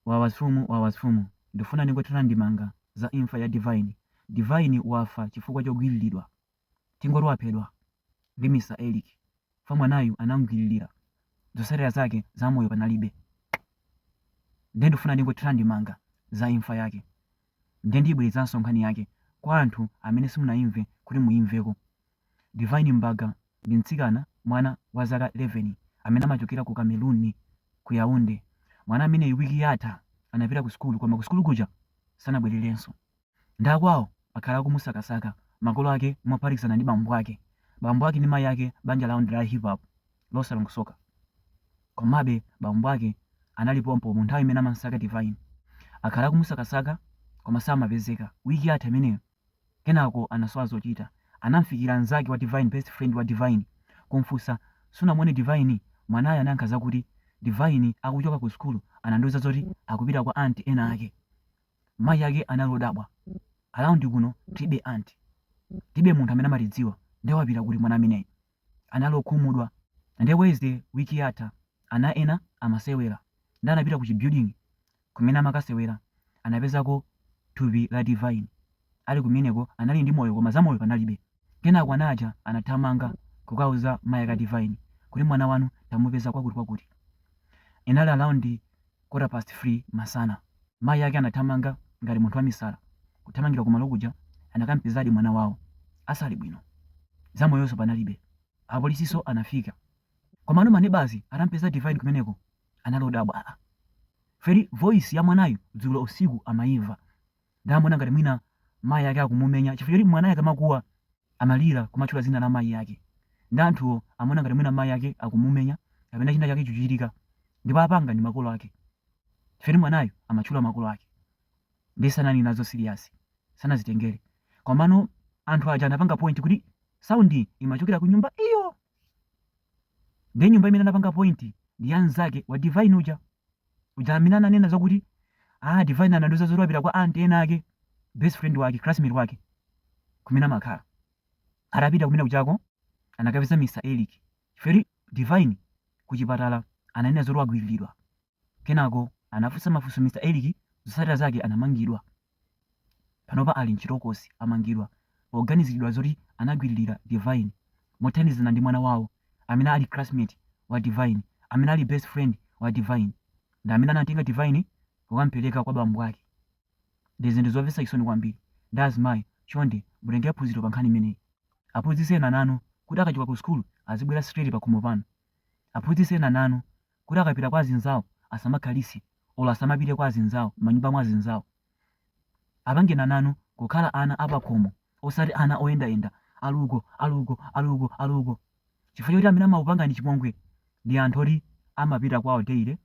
Wawa zifumu wawa zifumu ndufuna ndingothira ndemanga za imfa ya Divine Divine wafa chifukwa chogwililidwa tingoti waphedwa ndi Mr Eric fwa mwanayu anamugwililira zotsatira zake za moyo panalibe nde ndufuna ndingothira ndemanga za imfa yake. Ndiye ndiyibwerezanso nkhani yake kwa anthu amene simunayimve kuti muyimveko. Divine Mbaga ndi mtsikana, mwana, wa zaka 11 amene amachokera ku Cameroon, ku Yaounde. Mwana ameneyu wiki yatha anapita ku sukulu koma ku sukulu kuja sanabwererenso. Ndiye akwawo akhala akumusakasaka, makolo ake mophatikizana ndi bambo ake. Bambo ake ndi mayi ake banja lawo ndi la hip hop. losalongosoka. Komabe, bambo ake anali pompo mu nthawi imene amamsaka Divine. Akhala akumusakasaka, koma samapezeka, wiki yatha imeneyo. Kenako anasowa zochita. Anamfikira mnzake wa Divine, best friend wa Divine, kumfunsa, Sunamuone Divine? Mwanayo anayankha zakuti, Divine akuchoka ku sukulu anandiuza zoti akupita kwa aunt ena ake. Mayi ake anali odabwa. Around kuno tilibe aunt. Tilibe munthu amene amatidziwa. Nde wapita kuti mwana ameneyu? anali okhumudwa nde Wednesday wiki yatha ana ena amasewera nde anapita ku chi building kumene amakasewera anapezako thupi la Divine ali kumeneko anali ndi moyo koma za moyo panalibe kenako ana aja anathamanga kukauza mai ake a Divine kuti mwana wanu tamupeza kwakuti kwakuti inali around quarter past 3 masana mayi ake anathamanga ngati munthu wamisala kuthamangira kumalo kuja anakampezadi mwana wawo asali bwino za moyonso panalibe apolisinso anafika komano manebazi atampeza divine kumeneko anali odabwa aa feri voice ya mwanayu dzulo usiku amaimva Nde amaona ngati mwina mayi ake akumumenya chifukwa choti mwanayo akamakuwa amalira kumatchula dzina la mayi ake nde anthuwo amaona ngati mwina mayi ake akumumenya kapena china chake chikuchitika ndipo apanga ndi makolo ake chifukwa choti mwanayo amatchula makolo ake nde sanali nazo serious sanazitengere komano anthu aja anapanga point kuti sound iyi imachokera ku nyumba iyo nde nyumba imene anapanga point ndi ya mnzake wa Divine uja. uja amene ananena zakuti ah divine anandiuza zoti wapita kwa aunt ena ake best friend wake classmate wake kumene amakhala atapita kumene kujako anakapeza mr eric chifukwa divine kuchipatala ananena zoti wagwiriridwa kenako anafunsa mafunso mr eric zotsatira zake anamangidwa panopa ali mchitokosi amangidwa poganizilidwa zoti anagwililira Divine mothandizana ndi mwana wawo amene ali classmate wa Divine amene ali best friend wa Divine ndi amene anatenga Divine kukamupeleka kwa bambo ake ndi zinthu zomvetsa chisoni kwambiri nde azimayi chonde mutenge phunziro pa nkhani imeneyi aphunzitseni ana anu kuti akachoka ku sukulu azibwera straight pakhomo panu aphunzitseni ana anu kuti akapita kwa azinzawo asamakhalitse olo asamapite kwa azinzawo manyumba mwa azinzawo apangeni ana anu kukhala ana apakhomo osati ana oyendayenda ali uko ali uko ali uko ali uko chifukwa choti amene amawapanga chipongwe ndi anthu oti amapita kwawo daily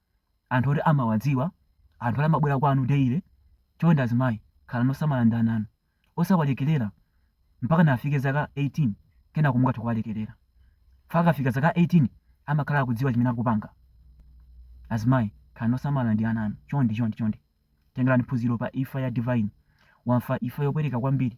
anthu oti amawadziwa anthu oti amabwera kwanu daily chonde azimayi khalani osamala ndi ana anu osawalekerera mpakana afike zaka 18 kenako mungathe kuwalekerera chifukwa akafika zaka 18 amakhala akudziwa chimene akupanga azimayi khalani osamala ndi ana anu chonde chonde chonde tengerani phunziro pa imfa ya divine wafa imfa yopweteka kwambiri